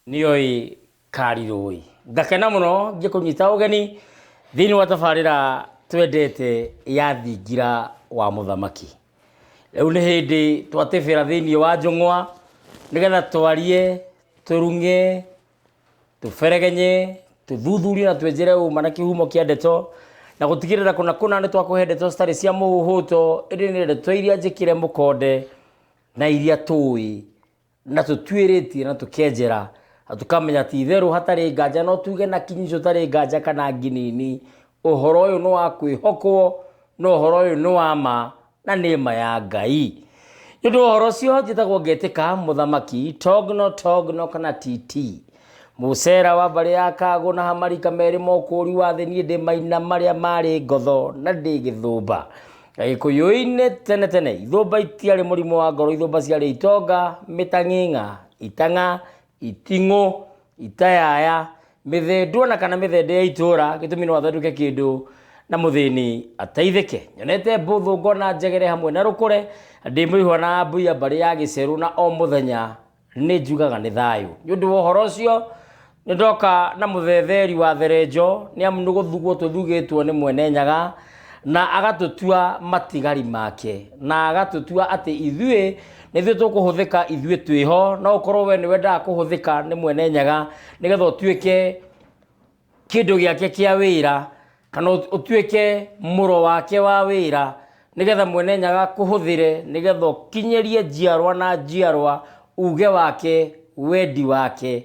niyoi kariroi ngakena muno ngikunyita ugeni thiini wa tabarira twendete ya thingira wa muthamaki riu ni hindi twatibira thiini wa njung'wa nigetha twarie tũrung'e tũberegenye tũthuthurie na twenjere ũma na kĩhumo kĩa ndeto na gũtigĩrĩra kũna kũna nĩ twakũhe ndeto citarĩ cia mũhũto ĩndĩ nĩ ndeto iria njĩkĩre mũkonde na iria tũĩ na tũtuĩrĩtie na tũkenjera na tũkamenya ti itherũ hatarĩ nganja no tuge na kinyi tũtarĩ nganja kana nginini ũhoro ũyũ nĩ wa kwĩhokwo na ũhoro ũyũ nĩ wa ma Na nĩ ma ya Ngai. Nĩ ũndũ wa ũhoro ũcio njĩtagwo ngetĩka mũthamaki Togno Togno kana TT. Mũcera wa mbarĩ ya Kagũ na Hamarika merĩ mokũũri wa thĩ niĩ ndĩ maina marĩa marĩ ngotho na ndĩ gĩthũmba. Gĩkũyũ-inĩ tene tene ithũmba itiarĩ mũrimũ wa ngoro ithũmba ciarĩ itonga, mĩtang'ing'a, itang'a, iting'ũ, itayaya, mĩthendo ona kana mĩthende ya itũũra gĩtũmi no athondeke kĩndũ na mũthĩni ateithĩke nyonete mbũthũ ngona njegere hamwe na rũkũre ndĩ mũihwa na mbuya mbarĩ ya gĩcerũ na o mũthenya nĩ njugaga nĩ thayũ nĩ ũndũ wa ũhoro ũcio nĩ ndoka na mũthetheri wa therenjo nĩ amu nĩ gũthugwo tũthugĩtwo nĩ mwene nyaga na agatũtua matigari make na agatũtua atĩ ithuĩ nĩthuĩ tũkũhũthĩka ithuĩ twĩ ho no ũkorwo we nĩwendaga kũhũthĩka nĩ mwene nyaga nĩgetha ũtuĩke kĩndũ gĩake kĩa wĩra kana ũt- ũtuĩke mũro wake wa wĩra nĩgetha mwene nyaga kũhũthĩre nĩgetha ũkinyĩrie njiarwa na njiarwa uge wake wendi wake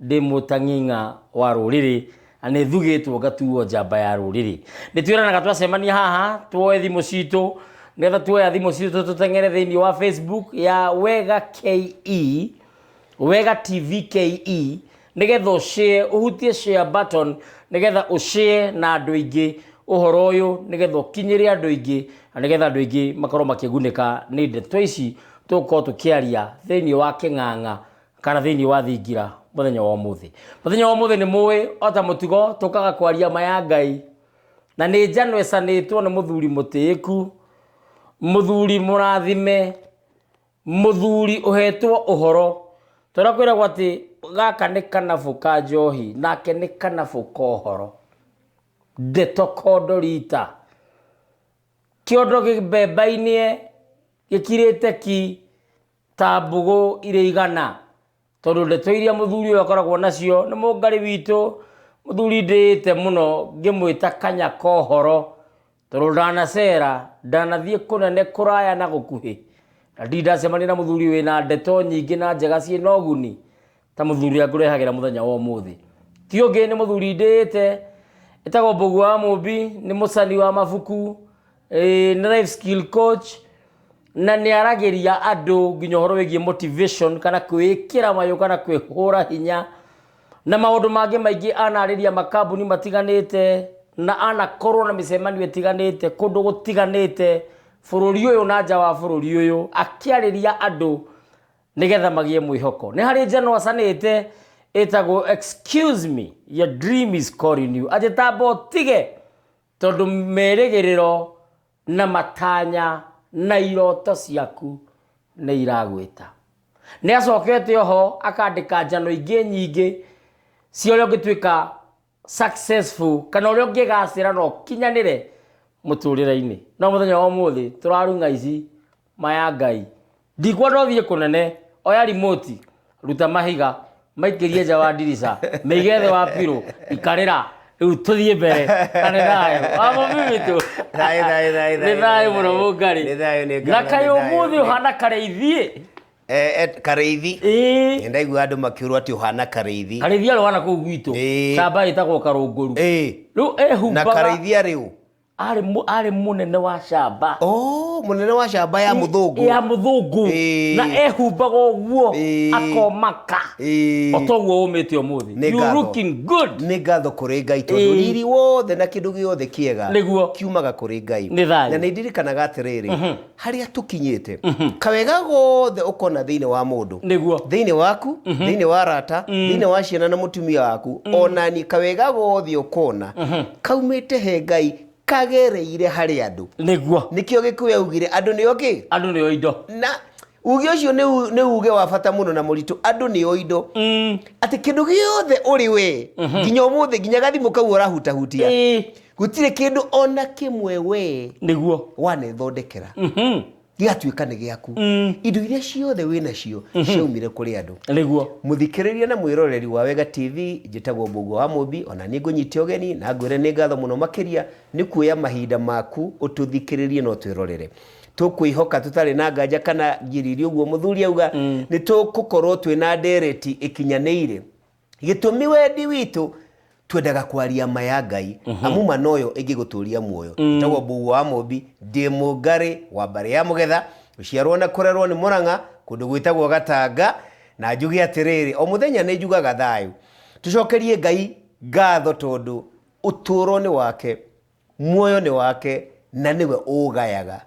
Ndĩ mũtang'ing'a wa rũrĩrĩ, na nĩ thugĩtwo ngatuo njamba ya rũrĩrĩ. Nĩ twĩranaga twacemania haha, twoe thimũ citũ, nĩgetha tuoya thimũ citũ tũteng'ere thĩinĩ wa Facebook ya Wega KE, Wega TV KE, nĩgetha ũ share, ũhutie share button, nĩgetha ũ share na andũ aingĩ ũhoro ũyũ, nĩgetha ũkinyĩre andũ aingĩ, na nĩgetha andũ aingĩ makorwo makĩgunĩka nĩ ndeto ici tũgũkorwo tũkĩaria thĩinĩ wa kĩng'ang'a kana thĩinĩ wa thingira mũthenya wa ũmũthĩ mũthenya wa ũmũthĩ nĩ mũĩ ota mũtugo tũkaga kwaria maya ngai na nĩ njano ĩcanĩtwo nĩ mũthuri mũtĩĩku mũthuri mũrathime mũthuri ũhetwo ũhoro tondũ kwĩragwo atĩ gaka nĩ kanabũ ka njohi nake nĩ kanabũ ka ũhoro ndeto kondo rita kĩondo gĩmbemba-inĩ gĩkirĩte ki ta mbũgũ irĩ igana tondũ ndeto iria mũthuri ũyũ akoragwo nacio nĩ mũngarĩ witũ mũthuri ndĩĩte mũno ngĩmwĩta kanya kohoro tondũ ndanacera ndanathiĩ kũnene kũraya na gũkuhĩ na ndirĩ ndacemania na mũthuri wĩna ndeto nyingĩ na njega ciĩna ũguni ta mũthuri ũrĩa ngũrehagĩra mũthenya wa ũmũthĩ ti ũngĩ nĩ mũthuri ndĩĩte ĩtagwo mbũgu wa mũmbi nĩ mũcani wa mabuku eh, nĩ life skill coach na nĩ aragĩria andũ nginya ũhoro wĩgiĩ motivation kana kwĩĩkĩra mayũ kana kwĩhũra hinya na maũndũ mangĩ maingĩ anarĩria makambuni matiganĩte na anakorwo na mĩcemanio ĩtiganĩte kũndũ gũtiganĩte bũrũri ũyũ na nja wa bũrũri ũyũ akĩarĩria andũ nĩgetha magĩe mwĩhoko nĩ harĩ njano acanĩte ĩtagwo excuse me your dream is calling you anjĩtamba ũtige tondũ merĩgĩrĩro na matanya na iroto ciaku nĩ iragwĩta nĩ acokete oho akandĩka njano ingĩ nyingĩ cia ũrĩa ũngĩtuĩka successful kana ũrĩa ũngĩgacĩra na ũkinyanĩre mũtũrĩre-inĩ no mũthenya wa ũmũthĩ tũrarung'a ici maya ngai ndikuona ũthiĩ kũnene oya rimoti ruta mahiga maikĩrie nja wa ndirica mĩige thĩ wa pirũ ikarĩra rĩu tũthiĩ mbere kanĩ thayũ wamo mĩmitũ Thayũ, thayũ, thayũ, nĩ thayũ, thayũ thayũ. mũno mũngari Nĩ thayũ, nĩ na ngari, kaĩ nĩ thayũ, ũmũthĩ nĩ- ũhana karĩa ithiĩ Eh, eh, karĩithi Ĩĩ. ndaigua andå makä å rwo atä å hana karĩithi karĩithia rwana kũu gwitũ Ĩĩ. camba ĩtagwo karũngũru Ĩĩ. rĩu na ehumbaga karĩithia rä u arĩ mũ- arĩ mũnene wa camba må nene wa camba ya må thå ngå ya mũthũngũ Ĩĩ. na ehumbaga ũguo Ĩĩ. akomaka Ĩĩ. otoguo ũmĩte ũmũthĩ Nĩ You ngatho. looking good nä ngatho kå rä ngai tondå Ĩĩ. riri wothe na kä ndå gä othe kä ega Nĩguo. kiumaga kå rä ngai Nĩ thayũ. na nä ndirikanaga atä rä rä harĩa tũkinyĩte kawega gothe ũkona thĩinĩ wa mũndũ Nĩguo. thĩinĩ waku thĩinĩ wa rata thĩinĩ wa ciana na mũtumia waku ona niĩ kawega gothe ũkona kaumĩte he ngai kagereire harĩ andũ nĩguo nĩkĩo gĩkũyũ yaugire andũ nĩo kĩ andũ nĩo indo na uge ũcio nĩ u- nĩ uge wa bata mũno na mũritũ andũ nĩo indo atĩ kĩndũ gĩothe ũrĩ we nginya ũmũthĩ nginya gathimũ kau ũrahutahutia Ĩĩ. gũtirĩ kĩndũ ona kĩmwe wee nĩguo wanethondekera Mhm. gĩgatuĩka nĩ gĩaku Mm. indo iria ciothe wĩ nacio ciaumire kũrĩ andũ nĩguo mũthikĩrĩria na mwĩroreri wa wega tv njĩtagwo mbũguo wa mũmbi ona nĩ ngũnyite ũgeni na ngwĩre nĩ ngatho mũno makĩria nĩ kuoya mahinda maku ũtũthikĩrĩrie no twĩrorere tũkwĩhoka tũtarĩ na nganja kana ngiriri ũguo mũthuri auga nĩ tũgũkorwo twĩ na ndereti ĩkinyanĩire gĩtũmi wendi witũ twendaga kwaria ma ya ngai amu ma noyo ĩngĩgũtũria muoyo njĩtagwo mbugua wa mũmbi ndĩ mũngarĩ wa mbarĩ ya mũgetha gũciarwo na kũrerwo nĩ mũrang'a kũndũ gwĩtagwo gatanga na njuge atĩrĩrĩ o mũthenya nĩ njugaga thayũ tũcokerie ngai ngatho tondũ ũtũũro nĩ wake muoyo nĩ wake na nĩwe ũũgayaga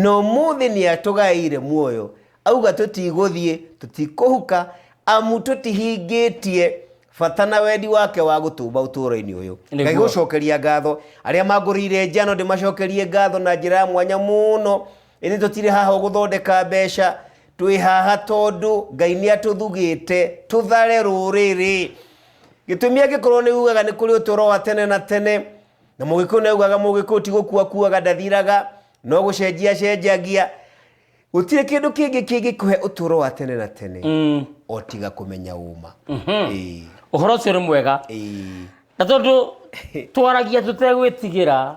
na ũmũthĩ nĩ atũgaĩire muoyo auga tũtigũthiĩ tũtikũhuka amu tũtihingĩtie bata na wendi wake wa gũtũmba ũtũũro-inĩ ũyũ Nĩguo. ngai gũcokeria ngatho arĩa mangũrĩire njano ndĩmacokerie ngatho na njĩra ya mwanya mũno ĩndĩ tũtirĩ haha gũthondeka mbeca twĩ haha tondũ ngai nĩ atũthugĩte tũthare rũrĩrĩ gĩtũmi angĩkorwo nĩ ugaga nĩ kũrĩ ũtũro wa tene na tene na mũgĩkũyũ nĩ ugaga mũgĩkũyũ ti gũkua kuaga ndathiraga no gũcenjia cenjagia gũtirĩ kĩndũ kĩngĩ kĩngĩkũhe ũtũro wa tene na tene Mm. o tiga kũmenya ũma Ĩĩ, ũhoro ũcio nĩ mwega ĩĩ. na tondũ twaragia tũtegwĩtigĩra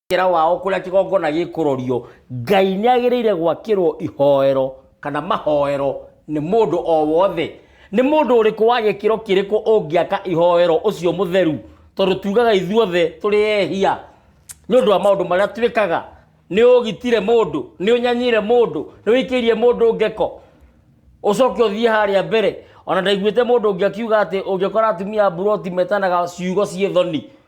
Kĩra wao kũrĩa kĩgongona gĩkũrorio, Ngai nĩ agĩrĩire gwakĩrwo ihoero kana mahoero nĩ mũndũ o wothe. Nĩ mũndũ ũrĩkũ wa gĩkĩro kĩrĩkũ ũngĩaka ihoero ũcio mũtheru? Tondũ tugaga ithuothe tũrĩ ehia nĩ ũndũ wa maũndũ marĩa twĩkaga. Nĩ ũgitire mũndũ, nĩ ũnyanyire mũndũ, nĩ ũikĩirie mũndũ ngeko, ũcoke ũthiĩ harĩa mbere. Ona ndaiguĩte mũndũ ũngĩ akiuga atĩ ũngĩkora atumia a mburoti metanaga ciugo ciĩ thoni.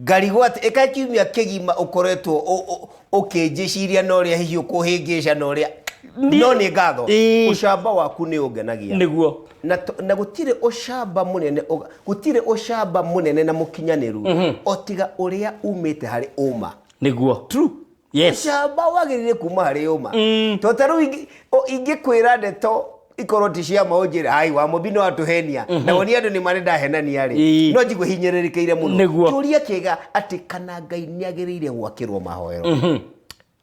Ngarigwat, ĩka kiumia kĩgima ũkoretwo ũ- ũ- ũkĩnjĩciria na ũrĩa hihi ũkũhĩngĩca na ũrĩa Niĩ- no nĩ ngatho Ĩĩ. ũcamba waku nĩ ũngenagia nĩguo na, to- na gũtirĩ ũcamba mũnene ũga- gũtirĩ ũcamba mũnene na mũkinyanĩru o tiga ũrĩa umĩte harĩ ũma nĩguo True. Yes. camba wagĩrĩire kuma harĩ ũma Mm. to ta rĩu ingĩ- o- ingĩkwĩra ndeto ikorwo ti cia ma ũnjĩre ai wa mũmbi no atũhenia na wonie andũ nĩ marĩ ndahenania rĩ Ii. no njigua hinyĩrĩrĩkĩire mũno Nĩguo. kĩũria kĩega atĩ kana ngai nĩ agĩrĩire gwakĩrwo mahoero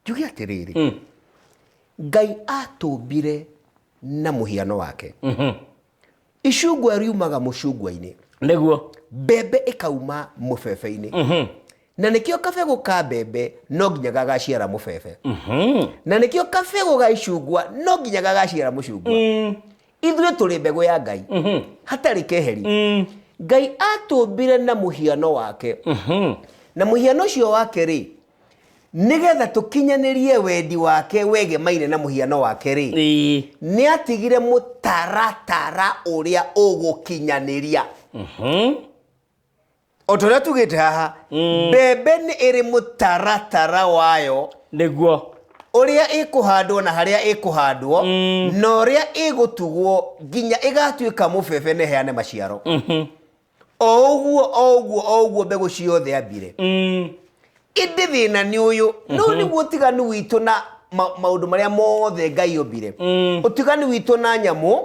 njuge atĩrĩrĩ ngai atũmbire na mũhiano wake icungwa riumaga mũcungwa-inĩ nĩguo mbembe ĩkauma mũbebe-inĩ na nĩkĩo kabegũ ka mbembe no nginya gagaciara mũbebe na nĩkĩo kabegũ ga icungwa no nginya gagaciara mũcungwa ithuĩ tũrĩ mbegũ ya ngai hatarĩ keheri ngai atũmbire na mũhiano wake na mũhiano ũcio wake rĩ nĩgetha tũkinyanĩrie wendi wake wegemaine na mũhiano wake rĩ Ĩĩ. nĩatigire mũtaratara ũrĩa ũgũkinyanĩria Mhm. o ta ũrĩa tugĩte haha mbembe nĩ ĩrĩ mũtaratara wayo nĩguo ũrĩa ĩkũhandwo na harĩa ĩkũhandwo na ũrĩa ĩgũtugwo nginya ĩgatuĩka mũbebe na ĩheane maciaro o ũguo o ũguo o ũguo mbegũ ciothe ambire Mm. ĩndĩ thĩna nĩ ũyũ no nĩguo ũtiganu witũ na ma- maũndũ marĩa mothe ngai ombire Mm. ũtiganu witũ na nyamũ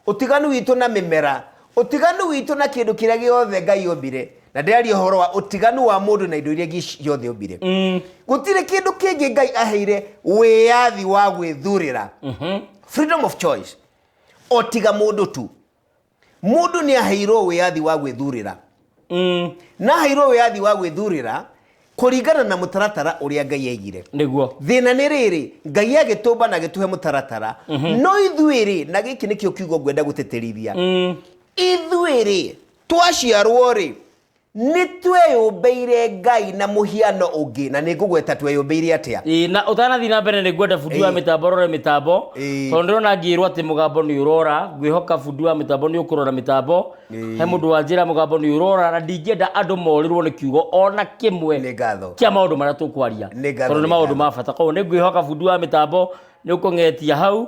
ũtiganu witũ na mĩmera ũtiganu witũ na kĩndũ kĩrĩa gĩothe ngai ombire na ndĩraria ũhoro wa ũtiganu wa mũndũ na indo iria ingĩ ciothe ombire Mm. gũtirĩ kĩndũ kĩngĩ ngai aheire wĩyathi wa gwĩthurĩra Mhm. freedom of choice o tiga mũndũ tu Mũndũ nĩ aheirwo wĩyathi wa gwĩthurĩra. Mm. Na aheirwo wĩyathi wa gwĩthurĩra kũringana na mũtaratara ũrĩa Ngai aigire. Nĩguo. Thĩna nĩ rĩrĩ, Ngai agĩtũmba na agĩtũhe mũtaratara. Mm -hmm. No ithuĩ rĩ, na gĩkĩ nĩkĩo kiugo ngwenda gũtĩtĩrithia. Mm. Ithuĩ rĩ, twaciarwo rĩ, nĩ tweyũmbĩire ngai na mũhiano ũngĩ na nĩ ngũgweta tweyũmbĩire atĩa Ĩĩ, na ũtanathiĩ na mbere nĩ ngwenda bundi wa Ĩĩ. mĩtambo rore mĩtambo Ĩĩ. tondũ ndĩrona ngĩrwo atĩ mũgambo nĩ ũrora ngwĩhoka bundi wa mĩtambo nĩ ũkũrora mĩtambo Ĩĩ. he mũndũ wanjĩra mũgambo nĩ ũrora na ndingĩenda andũ morĩrwo nĩ kiugo ona nĩ kĩmwe ngatho kĩa maũndũ marĩa tũkwaria Nĩ ngatho, tondũ nĩ nĩ maũndũ ngatho. ma bata koguo nĩ ngwĩhoka bundi wa mĩtambo nĩ ũkũng'etia hau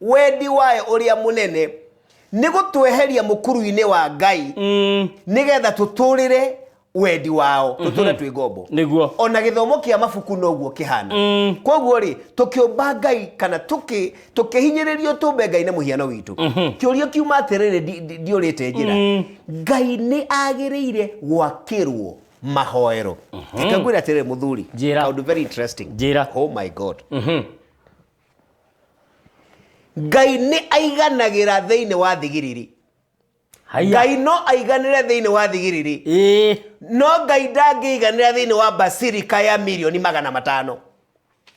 Wendi wayo ũrĩa mũnene nĩ gũtweheria mũkuru-inĩ wa Ngai mm. nĩgetha tũtũrĩre wendi wao mhm. tũtũre twĩ ngombo nĩguo ona gĩthomo kĩa mabuku noguo kĩhana mm. koguo rĩ tũkĩũmba ngai kana tũkĩhinyĩrĩrio tũmbe ngai na mũhiano witũ mhm. kĩũria kiuma atĩrĩrĩ ndiũrĩte njĩra mm. ngai nĩ agĩrĩire gwakĩrwo mahoero mhm. reka ngwĩre atĩrĩrĩ mũthuri kaũndũ very interesting njĩra oh my god ngai nĩ aiganagĩra thĩinĩ wa thigiriri haya ngai no aiganĩre thĩinĩ wa thigiriri ĩĩ no ngai ndangĩiganĩra thĩinĩ wa basirika ya milioni magana matano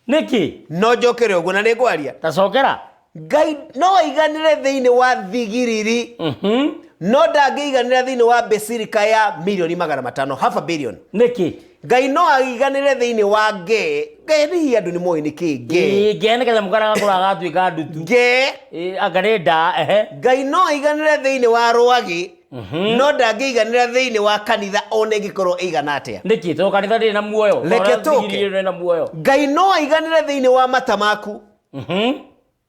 nĩkĩ no njokere ũguo na nĩ ngwaria tacokera ngai no aiganĩre thĩinĩ wa thigiriri Mhm. no ndangĩiganĩra thĩinĩ wa basirika ya milioni magana matano half a billion nĩkĩ ngai no aiganĩre thĩinĩ wa ngee ngee nĩ hihi andũ nĩ moĩ nĩ kĩ ngee Ĩ, ngee nĩ getha mũkara gakũra gatuĩka ndutu ngee Ĩ, anga nĩ ndaa ehe ngai no aiganĩre thĩinĩ wa rwagĩ no ndangĩiganĩra thĩinĩ wa kanitha ona ĩngĩkorwo ĩigana atĩa nĩkĩ tondũ kanitha ndĩrĩ na muoyo Reke Tondũ tũke. ndigiri ĩrĩ na muoyo ngai no aiganĩre thĩinĩ wa mata maku Mhm.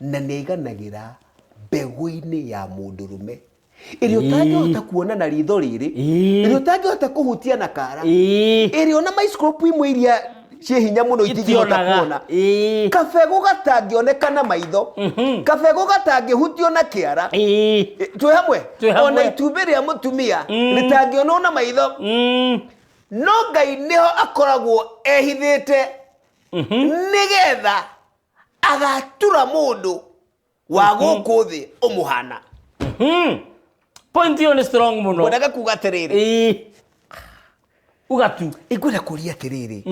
na nĩ aiganagĩra mbegũ-inĩ ya mũndũrũme ĩrĩa ũtangĩhota kuona na ritho rĩrĩ Ĩĩ. ĩrĩa ũtangĩhota kũhutia na kara Ĩĩ. ĩrĩa ona micropu imwe iria ciĩ hinya mũno itingĩhota Itionaga. kuona Ĩĩ. kabegũ gatangĩoneka na maitho kabegũ gatangĩhutio na kĩara Ĩĩ. twĩ hamwe Twĩ hamwe. ona itumbĩ rĩa mũtumia rĩtangĩonwo na maitho Mm. no ngai nĩho akoragwo ehithĩte nĩgetha agatura mũndũ wa gũkũ thĩ ũmũhana Hmm. point ĩyo nĩ strong mũno mwendaga kuga atĩrĩrĩ Ĩĩ. ũgatu ingwenda kũria atĩrĩrĩ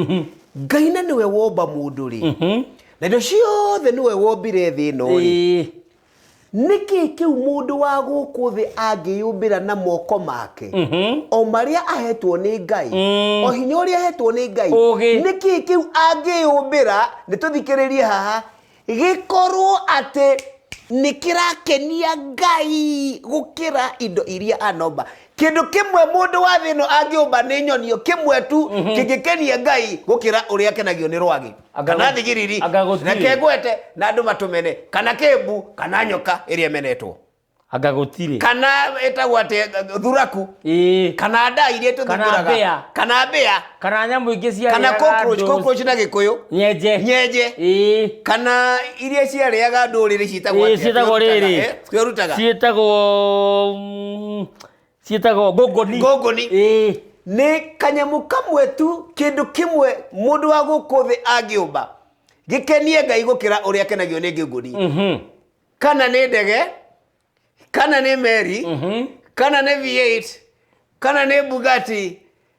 ngai na nĩwe womba mũndũ rĩ na indo ciothe nĩwe wombire thĩ ĩno rĩ Ĩĩ. Nĩ kĩĩ kĩu mũndũ wa gũkũ thĩ angĩyũmbĩra na moko make? O marĩa ahetwo nĩ Ngai, o hinya ũrĩa ahetwo nĩ Ngai, Ũũgĩ. nĩ kĩĩ kĩu angĩyũmbĩra, nĩ tũthikĩrĩrie haha, gĩkorwo atĩ nĩ kĩrakenia Ngai gũkĩra indo iria anomba. Kĩndũ kĩmwe mũndũ wa thĩ ĩno angĩũmba nĩ nyoni ĩyo kĩmwe tu kĩngĩkenia Ngai gũkĩra ũrĩa akenagio nĩ rwagĩ. Anga kana gũ- thigiriri anga gũtirĩ. na kegwete na andũ matũmene kana kĩmbu kana nyoka ĩrĩa ĩmenetwo anga gũtirĩ kana ĩtagwo atĩ thuraku ĩĩ kana ndaa iria Kana mbĩa. tũthingũraga kana mbĩa kana nyamũ ingĩ cia kana cockroach cockroach na gĩkũyũ nyenje nyenje ĩĩ kana iria ciarĩaga ndũrĩrĩ ciĩtagwo Ĩĩ, atĩa? ciĩtagwo Twĩrutaga, rĩrĩ. eh? twĩrutaga ciĩtagwo mm, ciĩtagwo ngũngũni ngũngũni Ĩĩ. nĩ kanyamũ kamwe tu kĩndũ kĩmwe mũndũ wa gũkũ thĩ angĩũmba gĩkenie ngai gũkĩra ũrĩa akenagio nĩ ngũngũni Mhm. kana nĩ ndege kana nĩ meri Mhm. kana nĩ v8 kana nĩ bugati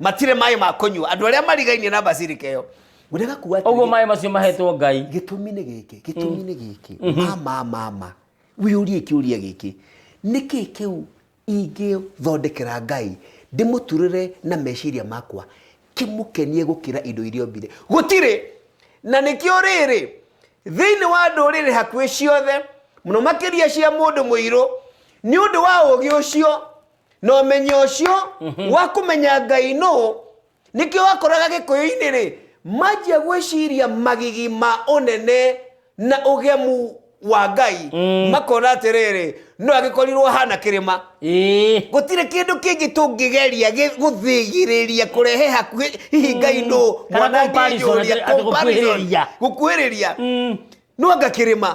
matirĩ maĩ ma kũnyua andũ arĩa marigainie na basirika ĩyo ũrĩa gakuwa atĩrĩ, ũguo maĩ macio mahetwo ngai gĩtũmi nĩ gĩkĩ gĩtũmi nĩ gĩkĩ mama mama wĩyũrie kĩũria gĩkĩ nĩkĩ kĩu ingĩthondekera ngai ndĩmũturĩre na meciria makwa kĩmũkenie gũkĩra indo iria ombire gũtirĩ na nĩkĩo rĩrĩ thĩinĩ wa ndũrĩrĩ hakuhĩ ciothe mũno makĩria cia mũndũ mũirũ nĩ ũndũ wa ũgĩ ũcio na ũmenyo ũcio wa kũmenya ngai nũ nĩkĩo wakoraga gĩkũyũ-inĩ rĩ manjia gwĩciria magigi ma ũnene na ũgemu wa ngai makona atĩrĩrĩ no agĩkorirwo hana kĩrĩma ĩĩ gũtirĩ kĩndũ kĩngĩ tũngĩgeria gĩ- gũthĩgĩrĩria kũrehe hakuhĩ hihi ngai nũ Kana comparison, atĩ- atĩ gũkuhĩrĩria. gũkuhĩrĩria no anga kĩrĩma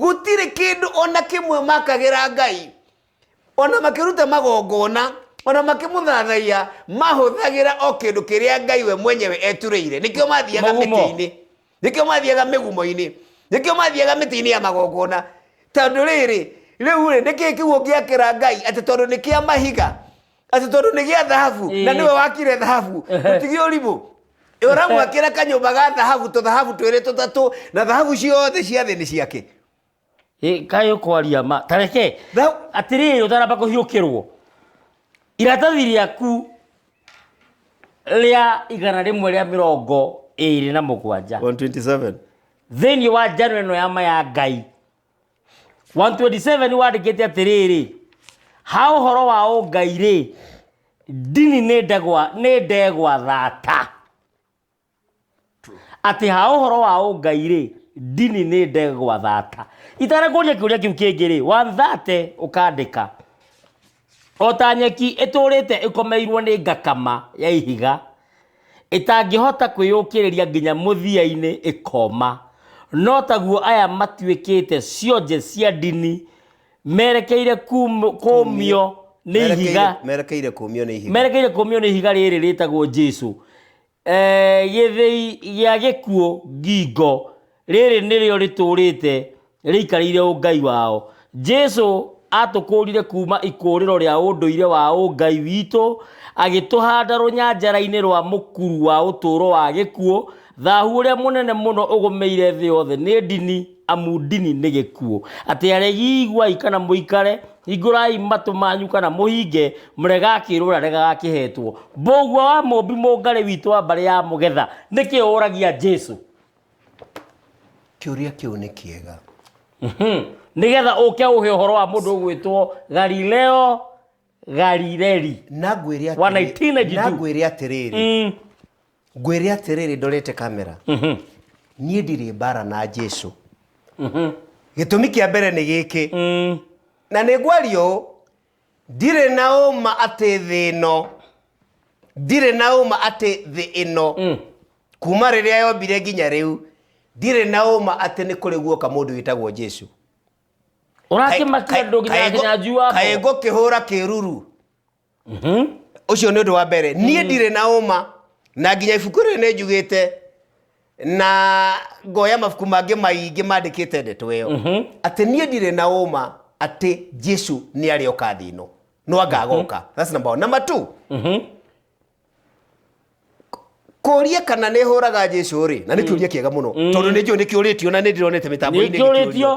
Gũtirĩ kĩndũ o na kĩmwe maakagĩra Ngai, o na makĩruta magongona, o na makĩmũthathaiya, maahũthagĩra o kĩndũ kĩrĩa Ngai we mwenyewe eturĩire. Nĩkĩo maathiaga Mũgumo. mĩtĩ-inĩ, nĩkĩo maathiaga mĩgumo-inĩ, nĩkĩo maathiaga mĩtĩ-inĩ ya magongona. Tondũ rĩrĩ, rĩu-rĩ, nĩ kĩĩ kĩu ũngĩakĩra Ngai atĩ tondũ nĩ kĩa mahiga? atĩ tondũ nĩ gĩa thahabu Ĩĩ. na nĩwe wakire thahabu ũtige ũrimũ ũramwakĩra kanyũmba ga thahabu tũthahabu twĩrĩ tũtatũ na thahabu ciothe cia thĩ nĩ ciake Ĩ, kaĩ ũkwaria ma tareke Tha- atĩrĩrĩ ũtaramba kũhiũkĩrwo iratathi rĩaku rĩa igana rĩmwe rĩa mĩrongo ĩrĩ na mũgwanja 127 thĩinĩ wa njano ĩno ya ma ya ngai 127 wandĩkĩte atĩrĩrĩ ha ũhoro wa ũngai rĩ ndini nĩ ndegwa nĩ ndegwa thata atĩ ha ũhoro wa ũngai rĩ ndini nĩ ndegwa thata itara kũria kĩũria kĩu kĩngĩ rĩ wanthate ũkandĩka O ta nyeki ĩtũũrĩte ĩkomeirwo nĩ ngakama ya ihiga, ĩtangĩhota kwĩyũkĩrĩria nginya mũthia-inĩ ĩkooma, no taguo aya matuĩkĩte cionje cia ndini merekeire kuum- kũũmio nĩ ihiga Merekeire- merekeire kũũmio nĩ ihiga merekeire kũũmio nĩ ihiga rĩrĩ rĩtagwo Jesu. Ee gĩthĩi gĩa gĩkuũ ngingo, rĩrĩ nĩrĩo rĩtũũrĩte rĩikarĩire ũngai wao. Jesu aatũkũũrire kuuma ikũũrĩro rĩa ũndũire wa ũngai witũ, agĩtũhanda rũnyanjara-inĩ rwa mũkuru wa ũtũũro wa gĩkuũ. Thahu ũrĩa mũnene mũno ũgũmĩire thĩ yothe nĩ ndini, amu ndini nĩ gĩkuũ. Atĩ aregi iguai kana mũikare, Hingũrai matũ manyu kana mũhinge, mũrega akĩrũra rega akĩhetwo. Mbũgua wa mũmbi mũngarĩ witũ wa mbarĩ ya mũgetha, nĩkĩ ũragia Jesu? Kĩũria kĩu nĩ kĩega. Mhm. Nĩgetha ũke ũhe ũhoro wa mũndũ ũgwĩtwo Galileo Galileli. Na ngwĩre Wa atĩrĩ- 1992. na ngwĩre atĩrĩrĩ Mm. ngwĩre atĩrĩrĩ ndorete kamera niĩ ndirĩ mbara na jesu gĩtũmi kĩa mbere nĩ gĩkĩ na nĩ ngwaria ũũ ndirĩ na ũma atĩ thĩ ĩno ndirĩ na ũma atĩ thĩ ĩno kuma rĩrĩa yombire nginya rĩu ndirĩ na ũma atĩ nĩ kũrĩ guoka mũndũ wĩtagwo jesu ũrakĩmakia andũ nginya nginya njui wa kaĩ mbogo ngũkĩhũra kĩruru Mhm. ucio ni undu wa mbere nie mm. ndire na uma na nginya ibuku ri ni njugite na ngoya mabuku mangĩ maingĩ mandĩkĩte ndeto ĩyo mhm. atĩ niĩ ndirĩ na ũma atĩ jesu nĩ arĩ oka thĩ ĩno no angagoka mhm. that's number one number two mhm. kũria kana nĩ hũraga jesu rĩ na nĩ mm. kĩũria kĩega mũno mm. tondũ nĩ njũĩ nĩ kĩũrĩtio na nĩ ndĩronete mĩtambo-inĩ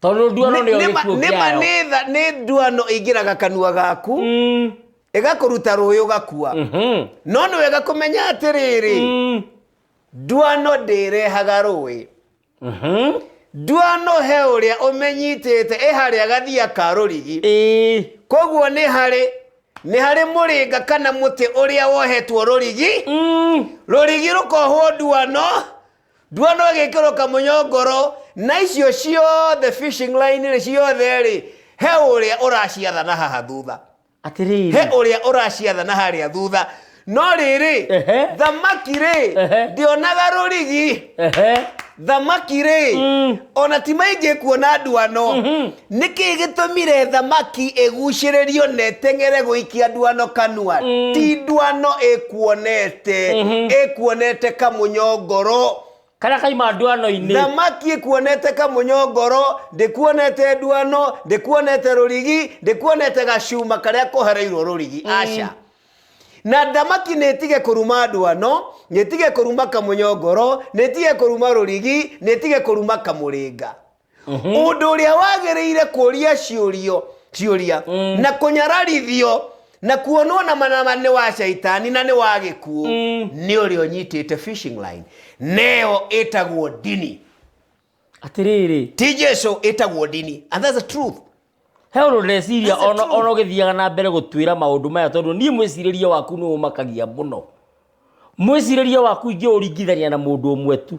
tondå nduano nä Nĩ ma- nĩ ma- nĩ tha- nĩ nduano ĩingĩraga kanua gaku ĩgakũruta rũĩ ũgakua no nĩ wega kũmenya atĩrĩrĩ nduano ndĩrehaga rũĩ nduano he ũrĩa ũmenyitĩte ĩ harĩa gathia ka rũrigi koguo nĩ harĩ nĩ harĩ mũrĩnga kana mũtĩ ũrĩa wohetwo rũrigi rũrigi rũkohwo nduano Ndua no ĩgĩkĩrwo kamunyo ngoro, na icio ciothe fishing line rĩ ciothe rĩ, he ũrĩa ũraciathana haha thutha, he atĩrĩrĩ ũrĩa ũraciathana harĩa thutha. No rĩrĩ, Ehe. thamaki rĩ, Ehe. ndionaga rũrigi, ehe thamaki rĩ, Mm. ona ti maingĩ kuona nduano, Nĩ kĩĩ gĩtũmire thamaki ĩgucĩrĩrio na ĩteng'ere gũikia ndwano kanua? Ti ndwano ĩkuonete, ĩkuonete kamũnyongoro. Karĩa kaima ndwano-inĩ. Thamaki ĩkuonete kamũnyongoro, ndĩkuonete ndwano, ndĩkuonete rũrigi, ndĩkuonete gacuma karĩa kohereirwo rũrigi. Aca. Na thamaki nĩ ĩtige kũruma ndwano, nĩ ĩtige kũruma kamũnyongoro, nĩ ĩtige kũruma rũrigi, nĩ ĩtige kũruma kamũrĩnga. ũndũ ũrĩa wagĩrĩire kũria ciũrio ciũria na kũnyararithio na kuonwo na manama nĩ wa caitani na nĩ wa gĩkuũ nĩ ũrĩa ũnyitĩte fishing line neo ĩtagwo ndini atĩrĩrĩ ti jesu ĩtagwo ndini and that's the truth he ũndũ ndĩreciria That's the ona truth. ona ũgĩthiaga na mbere gũtwĩra maũndũ maya tondũ niĩ mwĩcirĩrie waku nĩ ũmakagia mũno mwĩcirĩrie waku ingĩ ũringithania na mũndũ ũmwe tu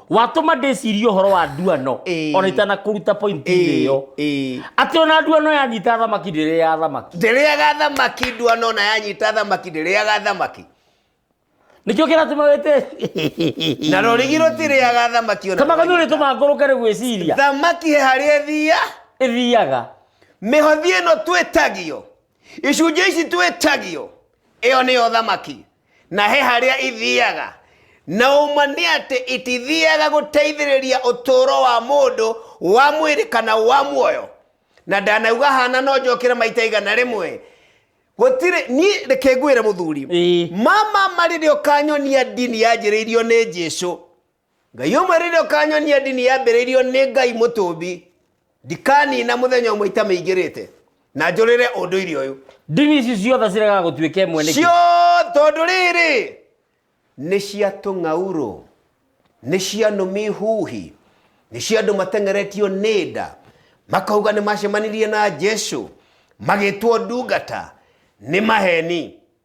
watũma ndĩcirie ũhoro wa nduano Ĩĩ. ona itanakũruta pointi-inĩ ĩyo ĩĩ atĩ ona nduano yanyita thamaki ndĩrĩ ya thamaki ndĩrĩaga thamaki nduano ona yanyita thamaki ndĩrĩaga thamaki nĩkĩo kĩratũma wĩte na rũrigi rũtirĩaga thamaki ona kamaga nĩ ũrĩtũma ngũrũke nĩ gwĩciria thamaki he harĩa ĩthia ĩthiaga mĩhothi ĩno twĩtagio icunjĩ ici twĩtagio ĩyo nĩyo thamaki na he harĩa ithiaga na ũma nĩ atĩ itithiaga gũteithĩrĩria ũtũũro wa mũndũ wa mwĩrĩ kana wa muoyo na ndanauga hana no njokĩre maita igana rĩmwe gũtirĩ niĩ reke ngwĩre mũthuri Ĩĩ. mama marĩ rĩo kanyonia ndini yanjĩrĩirio nĩ jesu Ngai ũmwe rĩrĩa ũkanyonia ndini yambĩrĩirio nĩ Ngai mũtũmbi, ndikanina mũthenya ũmwe itamĩingĩrĩte na njũrĩre ũndũire ũyũ. Ndini ici ciothe ciregaga gũtuĩka ĩmwe nĩkĩ? Cio tondũ rĩrĩ nĩ cia tũng'aurũ, nĩ cia nũmi huhi, nĩ cia andũ mateng'eretio nĩ nda, makauga nĩ macemanirie na Jesu, magĩtwo ndungata, nĩ maheni.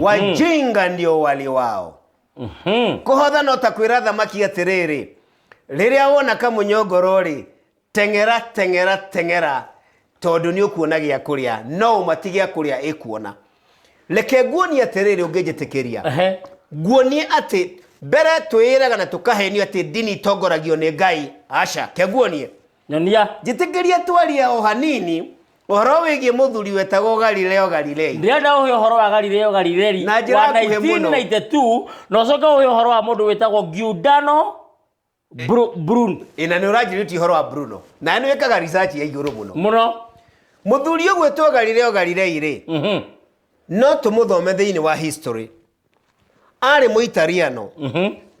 wajinga ndio wali wao Mhm. kũhotha no ta kwĩra thamaki atĩrĩrĩ rĩrĩa wona kamũnyongoro-rĩ teng'era teng'era teng'era tondũ nĩ ũkuona gĩa kũrĩa no ũmati gĩa kũrĩa ĩkuona reke nguonie atĩrĩrĩ ũngĩnjĩtĩkĩria Ehe. nguonie atĩ mbere twĩyĩraga na tũkahenio atĩ ndini itongoragio nĩ ngai aca ke nguonie Nyonia. Njĩtĩkĩria twarie o hanini ũhoro wĩgiĩ mũthuri wetagwo Galileo Galilei. Ndĩrenda ũhe ũhoro wa Galileo Galilei Na njĩra wa nguhĩ mũno. 1992 na ũcoke ũhe ũhoro wa mũndũ wĩtagwo Giordano Bru- Bruno. Ĩ na nĩ ũranjĩrĩtie ũhoro wa Bruno. Na nĩ wĩkaga research ya igũrũ mũno. Mũno. Mũthuri ũgwĩtwo Galileo Galilei-rĩ, Mhm. no tũmũthome thĩinĩ wa history. arĩ mũitariano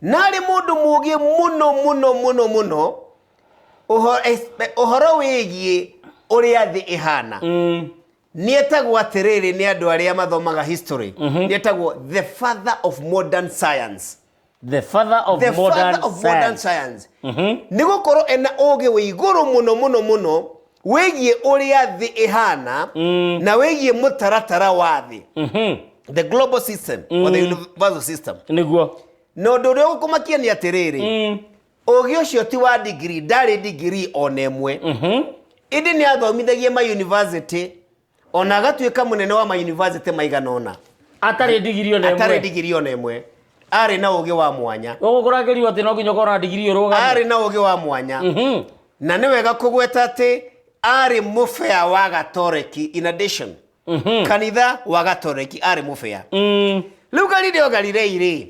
na arĩ mũndũ mũũgĩ mũno mũno mũno mũno ũho- espe- ũhoro wĩgiĩ ũrĩa thĩ ĩhana nĩetagwo atĩrĩrĩ nĩ andũ arĩa mathomaga history nĩetagwo the father of modern science the father of the modern father of modern science science nĩ gũkorwo ena ũũgĩ wĩ igũrũ mũno mũno mũno wĩgiĩ ũrĩa thĩ ĩhana na wĩgiĩ mũtaratara wa thĩ Mhm. the global system or the universal system nĩguo na ũndũ ũrĩa ũkũmakia nĩ atĩrĩrĩ Mm. ũgĩ ũcio ti wa ndigiri ndarĩ ndigiri ona ĩmwe Mhm. ĩndĩ nĩ athomithagia mayunivasĩtĩ ona agatuĩka mũnene wa mayunivasĩtĩ maigana ũna atarĩ ndigiri ona atarĩ ĩmwe ndigiri ona ĩmwe arĩ na ũũgĩ wa mwanya ũgũkũrangĩrio atĩ no nginya ũkorwo na ndigiri ũrũgame arĩ na ũũgĩ wa mwanya Mhm. na nĩ wega kũgweta atĩ arĩ mũbea wa gatoreki in addition Mhm. kanitha wa gatoreki arĩ mũbea Mm. rĩu galileo galilei rĩ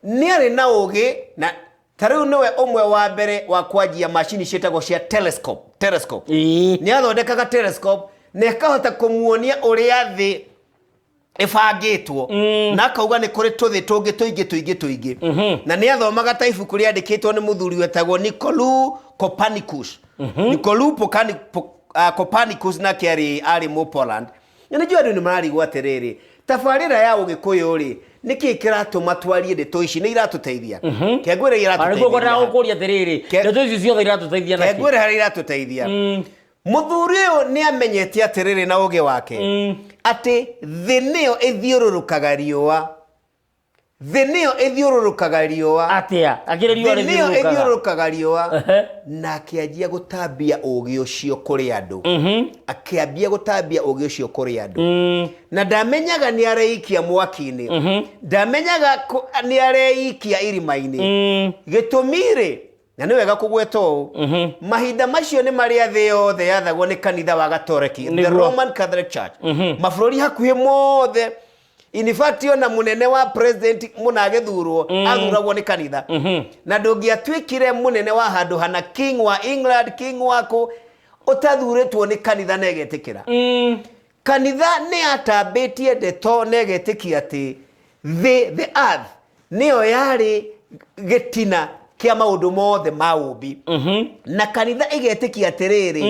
nĩ arĩ na ũũgĩ na ta rĩu nĩwe ũmwe wa mbere wa kwanjia macini ciĩtagwo cia telescope telescope Ĩĩ. nĩ athondekaga telescope na ĩkahota kũmuonia ũrĩa thĩ ĩbangĩtwo na akauga nĩ kũrĩ tũthĩ tũngĩ tũingĩ tũingĩ tũingĩ na nĩ athomaga ta ibuku rĩandĩkĩtwo nĩ mũthuri wetagwo Nicolou Copernicus Nicolou Pocani- Po- ah, Copernicus nake arĩ arĩ mũ Poland Na nĩ njũĩ andũ nĩ mararigwo atĩrĩrĩ, tabarĩra ya ũgĩkũyũ-rĩ, nĩ kĩĩ kĩratũma twarie ndeto ici? Nĩ iratũteithia? Ke ngwĩre iria Ona nĩguo ngwendaga iratũteithia. gũkũria atĩrĩrĩ Ke- ndeto ici ciothe iratũteithia Ke naki ngwĩre harĩa iratũteithia. Mũthuri ũyũ nĩ amenyete atĩrĩrĩ na ũgĩ wake atĩ thĩ nĩyo ĩthiũrũrũkaga riũa. thĩ nĩyo ĩthiũrũrũkaga riũa atĩa akĩrĩ riũa thĩ nĩyo rĩthiũrũrũkaga ĩthiũrũrũkaga riũa Ehe. na akĩanjia gũtambia ũũgĩ ũcio kũrĩ andũ akĩambia gũtambia ũũgĩ ũcio kũrĩ andũ na ndamenyaga nĩ areikia mwaki-inĩ ndamenyaga kũ- nĩ areikia irima-inĩ gĩtũmi-rĩ Na nĩ wega kũgweta ũũ mahinda macio nĩ marĩa thĩ yothe yathagwo nĩ kanitha wa gatoreki the Nĩguo. roman catholic church mabũrũri hakuhĩ mothe in fact ona mũnene wa president mũna agĩthurwo athuragwo nĩ kanitha na ndũngĩatuĩkire mũnene wa handũ hana king wa england king wa kũ ũtathurĩtwo nĩ kanitha na ĩgetĩkĩra Kanitha nĩ yatambĩtie ndeto na ĩgetĩkia atĩ thĩ, the earth, nĩyo yarĩ gĩtina kĩa maũndũ mothe ma ũũmbi. Na kanitha ĩgetĩkia atĩrĩrĩ,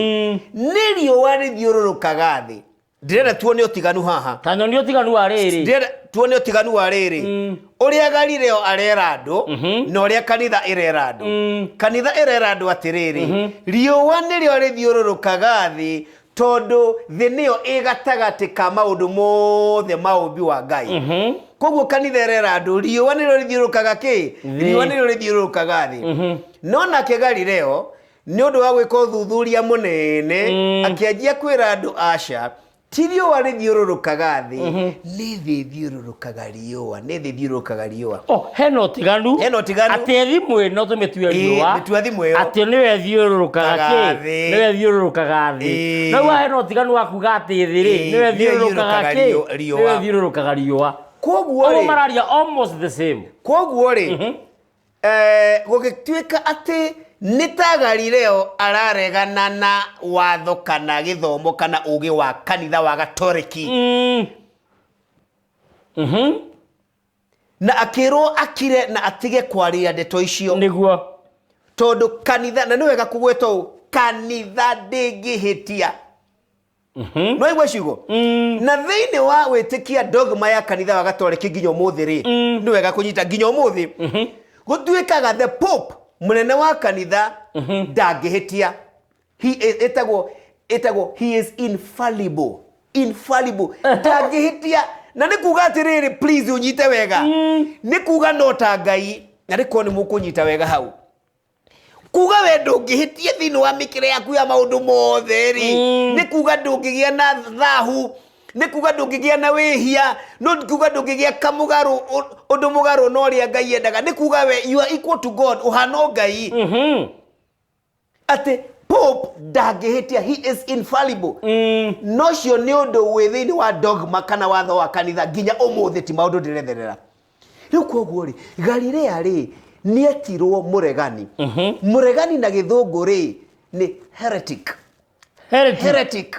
nĩ riũa rĩthiũrũrũkaga thĩ. Ndĩrenda tuone ũtiganu haha. Ta nyonia ũtiganu wa rĩrĩ. Ndĩrenda tuone ũtiganu wa rĩrĩ. Ũrĩa Galileo arera andũ na ũrĩa kanitha ĩrera andũ. Kanitha ĩrera andũ atĩrĩrĩ, riũa nĩrĩo rĩthiũrũrũkaga thĩ Tondũ thĩ nĩyo ĩ gatagatĩ ka maũndũ mothe ma ũũmbi wa Ngai. Koguo kanitha ĩrera andũ, riũa nĩrĩo rĩthiũrũrũkaga kĩ? Thĩ. Riũa nĩrĩo rĩthiũrũrũkaga thĩ. No nake Galileo nĩ ũndũ wa gwĩka ũthuthuria mũnene, akĩanjia kwĩra andũ, aca, ti riũa rĩthiũrũrũkaga thĩ, nĩ thĩ ĩthiũrũrũkaga riũa nĩ thĩ thiũrũkaga riũa Oh, hena ũtiganu Hena ũtiganu. atĩ thimũ ĩno tũmĩtue Ĩĩ, riũa mĩtua thimũ ĩyo. atĩ nĩwe thiũrũrũkaga Kaga kĩ thĩ. nĩwe thiũrũrũkaga thĩ Ĩĩ. na wa hena ũtiganu wa kuga atĩ thĩ rĩ Ĩĩ, nĩwe nĩwe thiũrũrũkaga thiũrũrũkaga kĩ riũ- riũa. nĩwe thiũrũrũkaga riũa koguo Oguo rĩ mararia almost the same koguo rĩ eh, gũgĩtuĩka atĩ nĩ ta galileo araregana na watho kana gĩthomo kana ũgĩ wa kanitha wa gatoreki Mm, na akĩrwo akire na atige kwaria ndeto icio nĩguo tondũ kanitha na nĩ wega kũgweta ũũ kanitha ndĩngĩhĩtia no aigua ciugo na thĩinĩ wa wĩtĩkia dogma ya kanitha wa gatoreki nginya ũmũthĩ rĩ nĩ wega kũnyita nginya ũmũthĩ gũtuĩkaga the pope mũnene wa kanitha ndangĩhĩtia He is- ĩtagwo ĩtagwo he is infallible infallible ndangĩhĩtia na nĩ kuga atĩrĩrĩ please ũnyite wega nĩ kuga no ta ngai na nĩ kuo nĩ mũkũnyita wega hau kuga we ndũngĩhĩtia thĩinĩ wa mĩkĩre yaku ya maũndũ mothe rĩ nĩ kuga ndũngĩgĩa na thahu nĩ kuga ndũngĩgĩa na wĩhia no nĩ kuga ndũngĩgĩa kamũgarũ ũ- ũndũ mũgarũ na ũrĩa ngai endaga nĩ kuga we you are equal to god ũhana o ngai atĩ pope ndangĩhĩtia he is infallible mm. nocio nĩ ũndũ wĩ thĩinĩ wa dogma kana watho wa kanitha nginya ũmũthĩ ti maũndũ ndĩretherera rĩu koguo rĩ galilea rĩ nĩetirwo mũregani mm -hmm. mũregani na gĩthũngũ rĩ nĩ heretic heretic heretic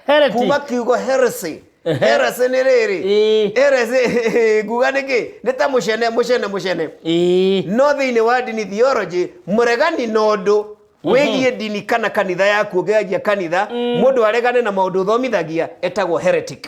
heretic kuma kiugo heresy Ehe. heresy nĩ rĩrĩ Ĩĩ. heresy nguga nĩ kĩ nĩ ta mũcene mũcene mũcene Ĩĩ. no thĩinĩ wa ndini theology mũregani na ũndũ wĩgiĩ ndini kana kanitha yaku ũngĩanjia kanitha mũndũ aregane na maũndũ ũthomithagia etagwo heretic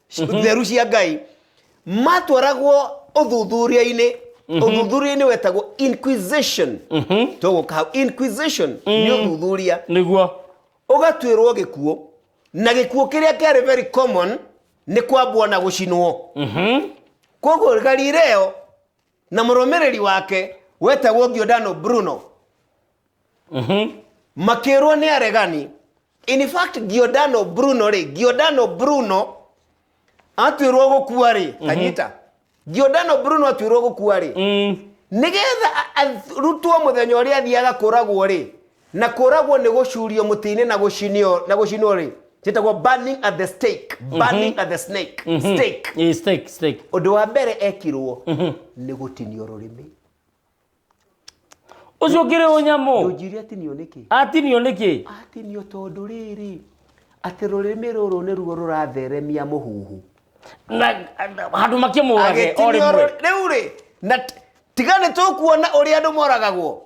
theru cia ngai matwaragwo ũthuthuria-inĩ ũthuthuria-inĩ wetagwo inquisition tũgũka hau inquisition nĩ ũthuthuria nĩguo ũgatuĩrwo gĩkuũ na gĩkuũ kĩrĩa kĩarĩ very common nĩ kwambwo na gũcinwo koguo galileo na mũrũmĩrĩri wake wetagwo Giordano Bruno makĩrwo nĩ aregani in fact Giordano Bruno rĩ Giordano Bruno atuĩrwo gũkua rĩ kanyita Giordano Bruno atuĩrwo gũkua rĩ nĩgetha a- arutwo mũthenya ũrĩa athiaga kũragwo rĩ na kũragwo nĩ gũcurio mũtĩ-inĩ na gũcinio na gũcinwo-rĩ gĩtagwo burning at the stake burning at the snake stake Eh, steak, steak. ũndũ wa mbere ekirwo nĩ gũtinio rũrĩmĩ Ũcio ũkĩrĩ ũnyamũ. ũnjiri atinio nĩkĩ Atinio nĩkĩ? atinio tondũ rĩrĩ atĩ rũrĩmĩ rũrũ nĩruo rũratheremia mũhuhu Na handũ makĩmũrage o agĩtinio rĩmwe. rũ- rĩu rĩ na t- tiga nĩ tũkuona ũrĩa andũ moragagwo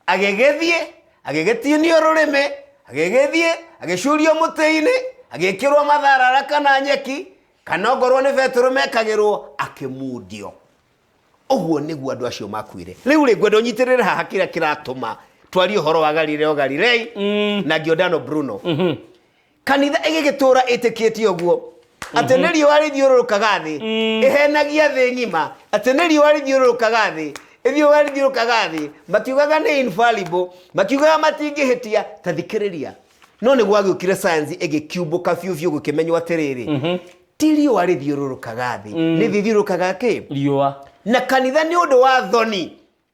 agĩgĩthiĩ agĩgĩtinio rũrĩmĩ agĩgĩthiĩ agĩcurio mũtĩ-inĩ agĩkĩrwo matharara kana nyeki kana ongorwo nĩ betũrũ mekagĩrwo akĩmundio ũguo nĩguo andũ acio makuire rĩu rĩ ngwenda ũnyitĩrĩre haha kĩrĩa kĩratũma twarie ũhoro wa galileo galilei na giordano bruno Kanitha ĩgĩgĩtũũra ĩtĩkĩtie ũguo atĩ nĩ riũa rĩthiũrũrũkaga thĩ ĩhenagia thĩ ng'ima atĩ nĩ riũa rĩthiũrũrũkaga thĩ ithiũa rĩthiũrũrũkaga thĩ makiugaga nĩ infallible makiugaga matingĩhĩtia ta thikĩrĩria no nĩ gwagĩũkire science ĩgĩkiumbũka biũ biũ gũkĩmenywo atĩrĩrĩ ti riũa rĩthiũrũrũkaga thĩ nĩ thiũrũrũkaga kĩ riũa na kanitha nĩ ũndũ wa thoni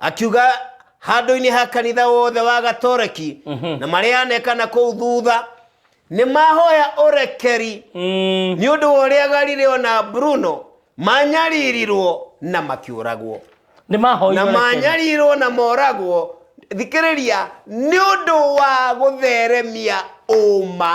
akiuga handũ-inĩ ha kanitha wothe wa gatoreki na marĩa anekana kũu thutha nĩ mahoya ũrekeri Mm. nĩ ũndũ wa ũrĩa galileo na bruno manyaririrwo na makĩũragwo nĩ mahoire na ũrekeri. manyarirwo na moragwo thikĩrĩria nĩ ũndũ wa gũtheremia ũma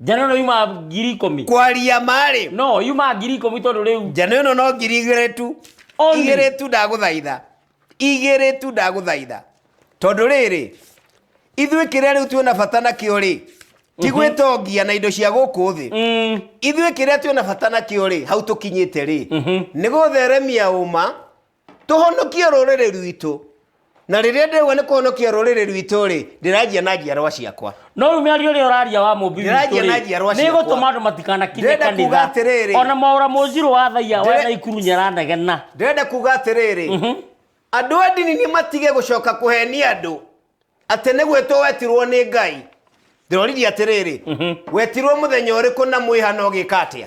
njano no yuma ngiri ikũmi kwaria marĩ no yuma ngiri ikũmi tondũ rĩu njano ĩno no ngiri igĩrĩ tu Only. igĩrĩ tu ndagũthaitha igĩrĩ tu ndagũthaitha tondũ rĩrĩ ithuĩ kĩrĩa rĩu twĩna bata nakĩo rĩ ti gwĩtongia na indo cia gũkũ thĩ Mm, ithuĩ kĩrĩa twĩna bata nakĩo rĩ hau tũkinyĩte rĩ nĩ gũtheremia ũma tũhonokie rũrĩrĩ rwitũ na rĩrĩa ndĩrauga nĩ kũhonokia rũrĩrĩ rwitũ rĩ ndĩranjia na njiarwa ciakwa no rĩu mĩario ĩrĩa ũraria wa mũmbi Ndĩranjia na njiarwa nĩ ciakwa. gũtũma andũ matikanakinye Ndĩrenda kuuga kanitha atĩrĩrĩ. ona maũra mũnjirũ wa thaiya wa Ndĩre- naikuru nyaranegena ndĩrenda kuga atĩrĩrĩ andũ a ndini nĩ matige gũcoka kũhenia andũ atĩ nĩ gwĩtwo wetirwo nĩ ngai ndĩroririe atĩrĩrĩ wetirwo mũthenya ũrĩkũ na mwĩhana ũgĩka atĩa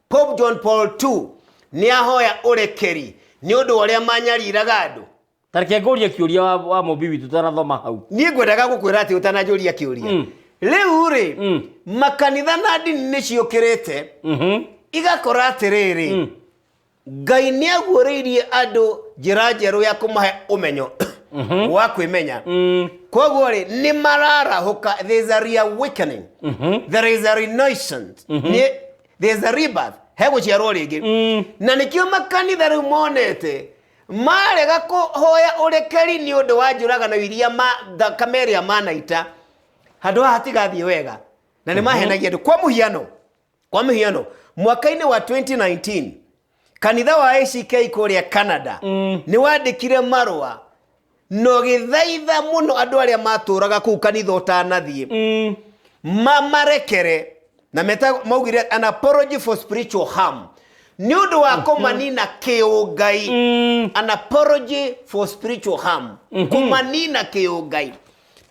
Pope John Paul II nĩ ahoya ũrekeri nĩ ũndũ wa ũrĩa manyariraga andũ. Ta reke ngũrie kĩũria wa, wa mũmbi witũ tũtanathoma hau. Niĩ ngwendaga gũkwĩra atĩ ũtananjũria kĩũria. Rĩu rĩ, makanitha na ndini nĩ ciũkĩrĩte Mhm. igakora atĩrĩrĩ, Ngai nĩ aguũrĩirie andũ njĩra njerũ ya kũmahe ũmenyo wa kwĩmenya. Mm. Kwoguo rĩ, nĩ mararahũka, there is a reawakening, there is a renaissance. Nĩ- there's a rebirth he guciarwo ringi Mm. na nikio makanitha riu monete marega kuhoya urekeri ni undu wa njuragano iria ma thakame iria manaita handu haha hatigathie wega na ni mahenagia andu kwa muhiano kwa muhiano mwaka-ini wa 2019 kanitha wa ack kũrĩa canada mm. nĩ wandĩkire marũa na ũgĩthaitha mũno andũ arĩa matũraga kũu kanitha ũtanathiĩ mm. mamarekere na meta maugire an apology for spiritual harm nĩ ũndũ wa mm-hmm. kũmanina kĩũngai mm. an apology for spiritual harm mm-hmm. kũmanina kĩũngai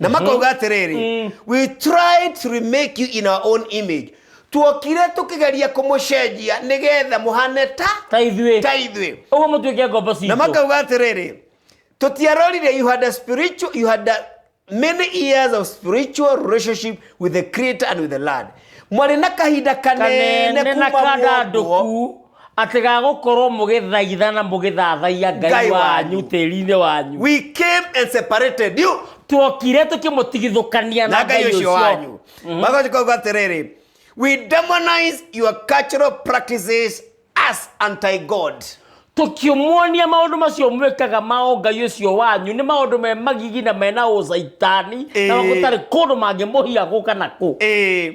na makauga atĩrĩrĩ we tried to remake you in our own image tuokire tũkĩgeria kũmũcenjia nĩgetha mũhane ta ta ithuĩ ta ithuĩ ũguo mũtuĩke ngombo na citũ makauga atĩrĩrĩ tũtiarorire you had a spiritual you had a many years of spiritual relationship with the creator and with the land mwarĩ na kahinda kanene kanene na kuma mwokwo kandandũku atĩ ga gũkorwo mũgĩthaitha na mũgĩthathaiya ngai Ngai wanyu wanyu. tĩri-inĩ wanyu We came and separated you twokire tũkĩmũtigithũkania na na ngai ngai ũcio ũcio wanyu magothi kauga atĩrĩrĩ we demonize your cultural practices as anti god tũkĩmuonia maũndũ macio mwĩkaga ma ũngai ũcio wanyu nĩ maũndũ me magigi na mena ũcaitani na Ĩĩ. gũtarĩ kũndũ mangĩmũhia gũka na kũ Eh,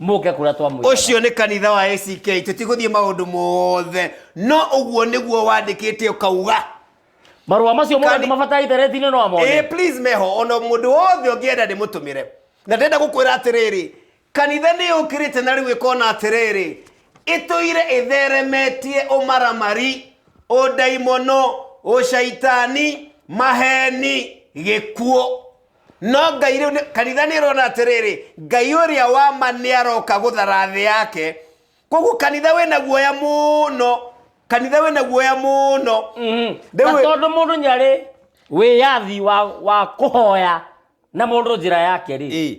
muke kuria twamwira ucio ni kanitha wa ACK tutiguthie maundu mothe no uguo niguo wandikite ukauga marua macio mothe Kani- mabatara ithereti-inĩ no eh amone please meho ona mundu wothe ungienda ndimutumire na ndenda gukwira atiriri kanitha ni ukirite na riu ikona atiriri ituire itheremetie umaramari udaimono ucaitani maheni gikuo no ngai rĩu nĩ- kanitha nĩ ĩrona atĩrĩrĩ ngai ũrĩa wa ma nĩ aroka gũthara thĩ yake koguo kanitha wĩna guoya mũno kanitha wĩna guoya mũno na Rĩu- tondå må ndå nyarä wä yathi wa, wa kå hoya na må ndå njä ra yake rä Ĩ.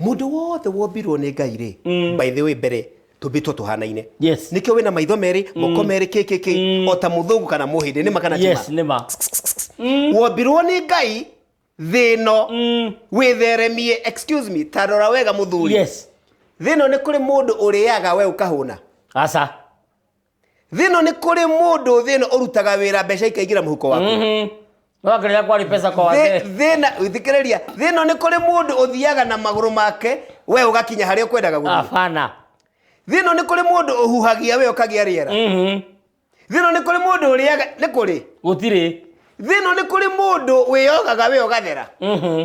Mũndũ wothe wombirwo nĩ Ngai-rĩ, by the way mbere tũmbĩtwo tũhanaine. Yes. Nĩkĩo wĩna maitho merĩ, moko merĩ kĩ kĩ kĩ, o ta mũthũngũ kana mũhĩndĩ, nĩ ma kana ti ma? Yes, nĩ ma. Wombirwo nĩ Ngai thĩ ĩno wĩtheremie, excuse me, ta rora wega mũthuri. Yes. Thĩ ĩno nĩ kũrĩ mũndũ ũrĩaga we ũkahũna? Aca. thĩno nĩ kũrĩ mũndũ thĩno ũrutaga wĩra mbeca ikaingĩra mũhuko waku Mhm. no akĩrĩa kwari pesa kwa wazee Thĩ- thĩna thikĩrĩria thĩno nĩ kũrĩ mũndũ ũthiaga na magũrũ make we ũgakinya harĩa ũkwendaga gũthiĩ hapana thĩno nĩ kũrĩ mũndũ ũhuhagia we ũkagĩa rĩera Mhm. thĩno nĩ kũrĩ mũndũ ũrĩaga nĩ kũrĩ gũtirĩ thĩno nĩ kũrĩ mũndũ wĩyogaga we ũgathera Mhm.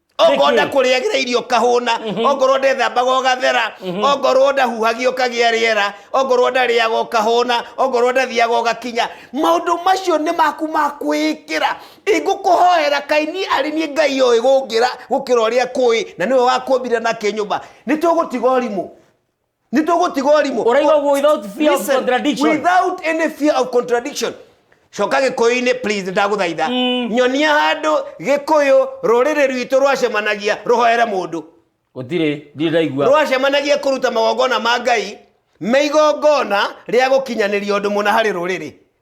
ongorwo ndakũrĩagĩra irio kahũna mhm. ongorwo ndethambaga ũgathera mhm. ongorwo ndahuhagia ũkagĩa rĩera ongorwo ndarĩaga ũkahũna ongorwo ndathiaga ũgakinya maũndũ macio nĩ maku ma kwĩĩkĩra ingũkũhoera kaini arĩ niĩ ngai oĩ gũngĩra gũkĩra ũrĩa kũĩ na nĩwe wakũmbire na kĩnyũmba nĩ tũgũtiga ũrimũ nĩ tũgũtiga ũrimũ ũraigagwo without fear of Listen, contradiction without any fear of contradiction coka gĩkũyũ-inĩ please ndagũthaitha mm. nyonia handũ gĩkũyũ rũrĩrĩ rwitũ rwacemanagia rũhoere mũndũ gũtirĩ ndirĩ ndaigua rwacemanagia kũruta magongona ma ngai me igongona rĩa gũkinyanĩria ũndũ mũna harĩ rũrĩrĩ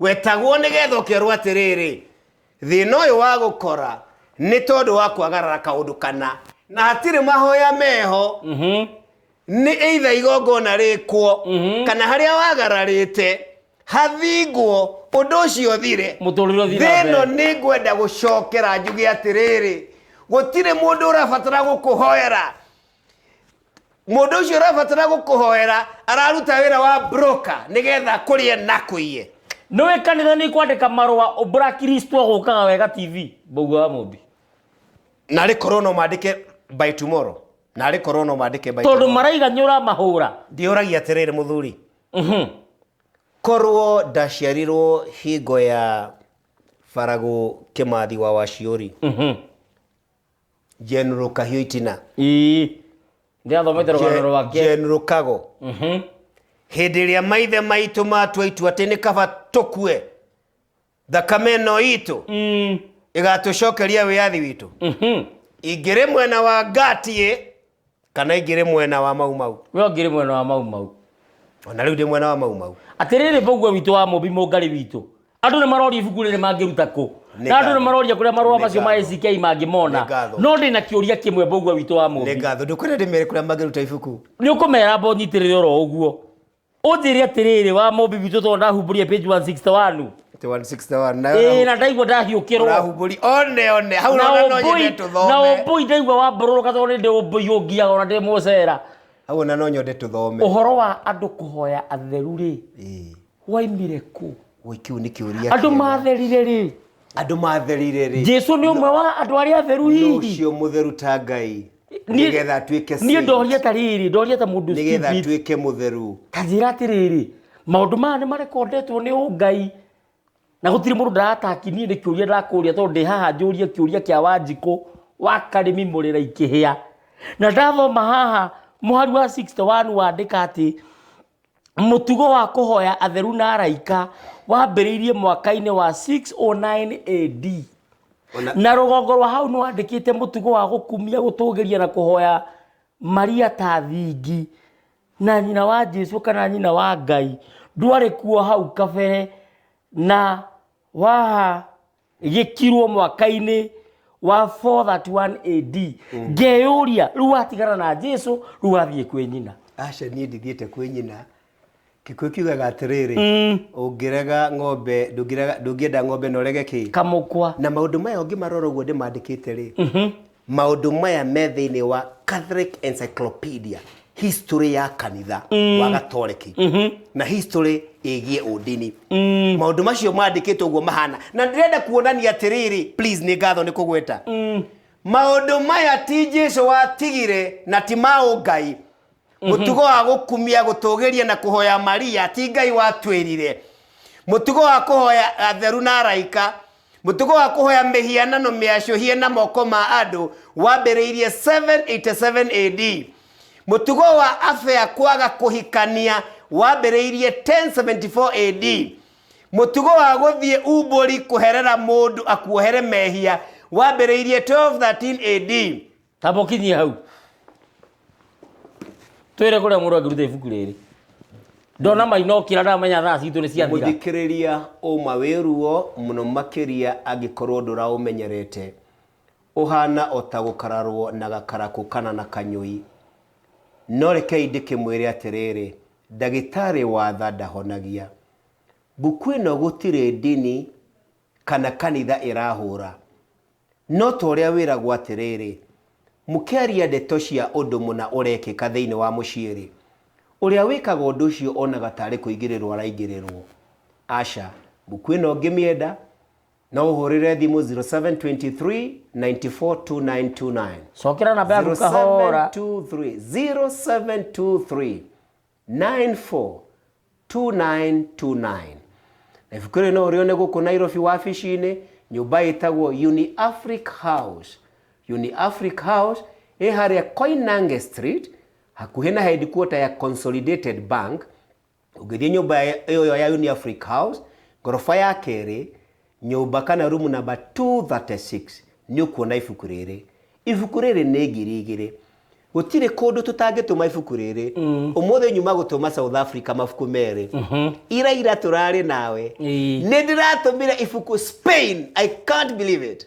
wetagwo nĩgetha ũkerwo atĩrĩrĩ thĩna ũyũ wa gũkora nĩ tondũ wa kwagarara kaũndũ kana na hatirĩ mahoya meho Mhm. nĩ eitha igongona rĩkwo kana harĩa wagararĩte hathingwo ũndũ ũcio thire Mũtũrĩre ũthiĩ na thĩno mbere. nĩ ngwenda gũcokera njuge atĩrĩrĩ gũtirĩ mũndũ ũrabatara gũkũhoera Mũndũ ũcio ũrabatara gũkũhoera araruta wĩra wa broker nĩgetha kũrĩe na kũiye. nä wä kanitha nä kwandä ka marå a mbura kiristwa gå kaga wega tv mbaugua wa må mbi Narĩ korwo no mandĩke by tomorrow. Narĩ korwo no mandĩke by tondå tomorrow. maraiga nä å ramahå ra Ndĩũragia atĩrĩrĩ mũthuri. Korwo ndaciarirwo hingo ya Baragũ Kĩmathi wa Waciũri. General Kahio Itina. ii ndĩrathomete rũgano rwake General Kago. Mhm. Hĩndĩ ĩrĩa maithe maitũ matua itua atĩ nĩ kaba tũkue thakame ĩno itũ Mm, ĩgatũcokeria wĩyathi witũ. mhm. Ingĩrĩ mwena wa Ngatiĩ kana ingĩrĩ mwena wa mau mau we ũngĩrĩ mwena wa mau mau ona rĩu ndĩ mwena wa mau mau atĩrĩrĩ mboguo witũ wa mũmbi mũngarĩ witũ andũ nĩ maroria ibuku rĩrĩ mangĩruta kũ Nĩ na andũ nĩ ngatho. maroria kũrĩa marũa Nĩ macio ma ngatho. ACK Nĩ mangĩmona ngatho. no ndĩ na kĩũria kĩmwe mboguo witũ wa nĩ mũmbi ngatho ndũkwenda ndĩmere kũrĩa mangĩruta ibuku nĩ ũkũmera mbo nyitĩrĩre oro ũguo Ũnjĩre atĩrĩrĩ wa mũmbi witũ tondũ ndahumbũria page 161. Ati 161 Ĩĩ nayo na ndaigua ndahiũkĩrwo. ũrahumbũri one one hau Na rona no nyende ũmbũi na tũthome ũmbũi ndaigua wambororoka tondũ nĩ ndĩ ũmbũi ũngiaga ona ndĩ mũcera. hau ona no nyende tũthome Ũhoro wa andũ kũhoya atheru rĩ Ĩĩ. waimire kũ? Ũĩ, kĩu nĩ kĩũria Andũ kĩega. matherire rĩ? andũ matherire rĩ Jesu nĩ ũmwe wa andũ arĩa atheru hihi? ũcio mũtheru ta ngai Niĩ- nĩgetha atuĩke niĩ saint, ndoria ta rĩrĩ ndoria ta mũndũ nĩgetha stupid. atuĩke mũtheru kanjĩra atĩrĩrĩ maũndũ maya nĩ marekondetwo nĩ ũngai na gũtirĩ mũndũ ndarataki niĩ nĩ kĩũria ndakũria tondũ ndĩ haha njũrie kĩũria kĩa wanjikũ wa karĩmi mũrĩra ikĩhĩa na ndathoma haha mũhari wa 61 wandĩka atĩ Mũtugo wa kũhoya atheru na araika wambĩrĩirie mwaka-inĩ wa 609 AD. Ona- Na rũgongo rwa hau nĩ wandĩkĩte mũtugo wa gũkumia, gũtũgĩria na kũhoya Maria ta thingi na nyina wa Jesu kana nyina wa Ngai. Ndwarĩ kuo hau kabere na waha gĩkirwo mwaka-inĩ wa 431 AD ngeyũria rĩu watigana na Jesu rĩu wathiĩ kwĩ nyina aca niĩ ndithiĩte kwĩ nyina kĩkuũ kiugaga atĩrĩrĩ ũngĩrega ng'ombe ndũngĩrega- ndũngĩenda ng'ombe na ũrege kĩ kamũkwa na maũndũ maya ũngĩmarora ũguo ndĩmandĩkĩte rĩ maũndũ maya me thĩinĩ wa catholic encyclopedia history ya kanitha mm. wa gatoreki mm -hmm. na history ĩgiĩ ũndini mm. maũndũ macio mandĩkĩtwo ũguo mahana na ndĩrenda kuonania atĩrĩrĩ please nĩ ngatho nĩ kũgweta mm. maũndũ maya ti jesu watigire na ti maũ ngai mm-hmm. mũtugo wa gũkumia gũtũgĩria na kũhoya maria ti ngai watwĩrire mũtugo wa kũhoya atheru na araika mũtugo wa kũhoya mĩhianano mĩacũhie na moko ma andũ wambĩrĩirie 787 AD. Mũtugo wa abea kwaga kũhikania wambĩrĩirie 1074 AD. Mũtugo wa gũthiĩ umbũri kũherera mũndũ akuohere mehia wambĩrĩirie 1213 AD. Tamba ũkinyie hau. Twĩre kũrĩa mũndũ angĩruta ibuku rĩrĩ. Ndona mainokĩra ndamenya thaa citũ nĩ ciathira. Mũthikĩrĩria ũma wĩ ruo mũno makĩria angĩkorwo ndũraũmenyerete. Ũhana o ta gũkararwo na gakarakũ kana na kanyũi. No rekei ndĩkĩmwĩre atĩrĩrĩ, ndagĩtarĩ wa tha ndahonagia. Mbuku ĩno gũtirĩ ndini kana kanitha ĩrahũra. No ta ũrĩa wĩragwo atĩrĩrĩ, Mũkĩaria ndeto cia ũndũ mũna ũrekĩka thĩinĩ wa mũciĩ-rĩ, ũrĩa wĩkaga ũndũ ũcio onaga tarĩ kũingĩrĩrũo araingĩrĩrũo. Aca, mũkwĩna ũngĩmĩenda, no ũhũrĩre thimũ 0723942929. Cokera namba yaku kahora. 0723, 0723, 942929. Na ibuku rĩrĩ no ũrĩone gũkũ Nairobi wabici-inĩ nyũmba ĩtagwo Uniafric House. Uniafric House ĩ harĩa Koinange Street hakuhĩ na headquarter ya Consolidated Bank. Ũngĩthiĩ nyũmba ĩyo ya Uniafric House ngoroba ya kerĩ nyũmba kana rumu namba 236 nĩ ũkuona ibuku rĩrĩ. Ibuku rĩrĩ nĩ ngiri igĩrĩ. Gũtirĩ kũndũ tũtangĩtũma ibuku rĩrĩ. Ũmũthĩ nyuma gũtũma South Africa mabuku merĩ. Ira ira tũrarĩ nawe. Ĩĩ. Nĩ ndĩratũmire ibuku Spain. I can't believe it.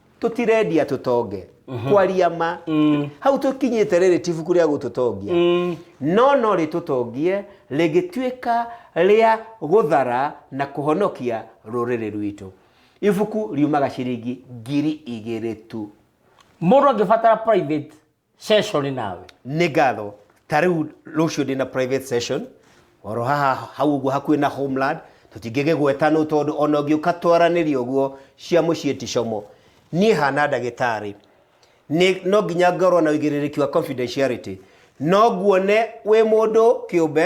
tũtirendia tũtonge kwaria ma hau tũkinyĩte rĩrĩ ti ibuku rĩa gũtũtongia no no rĩtũtongie rĩgĩtuĩka rĩa gũthara na kũhonokia rũrĩrĩ rwitũ ibuku riumaga ciringi ngiri igĩrĩ tu mũndũ angĩbatara private session nawe nĩ ngatho ta rĩu rũciũ ndĩ na private session oro haha hau ũguo hakuhĩ na homeland tũtingĩgĩgweta nũ tondũ ona ũngĩũka twaranĩria ũguo cia mũciĩ ti como niĩ hana ndagĩtarĩ nĩ no nginya ngorwo na ũigĩrĩrĩki wa confidentiality no nguone wĩ mũndũ kĩũmbe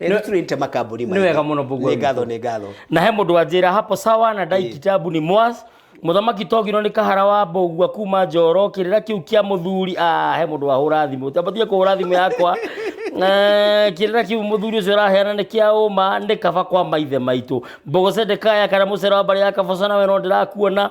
nĩtũrĩte makambuni nĩ wega mũno Mbũgua nĩ ngatho nĩ ngatho na he mũndũ anjĩra hapo sawa na ndai kitabu ni mwas mũthamaki togirwo nĩ kahara wa mbũgua kuma njoro kĩrĩra kĩu kĩa mũthuri ah, he mũndũ wahũra thimũ tambatie kũhũra thimũ yakwa Eh, kĩrĩra kĩu mũthuri ũcio araheana nĩ kĩa ũma nĩ kaba kwa maithe maitũ mbogocende kaya kana mũcera wa mbarĩ ya kaboco nawe no ndĩrakuona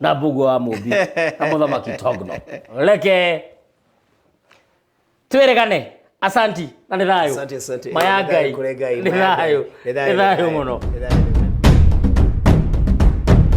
na mbugu wa mũmbi na mũthamaki togno reke twĩrĩgane asanti na nĩ thayũ Asante, asante. maya Nĩ thayũ ngai kũrĩ Ngai, nĩ maya Ngai. thayũ Nĩ nĩ thayũ, thayũ nĩ mũno thayũ.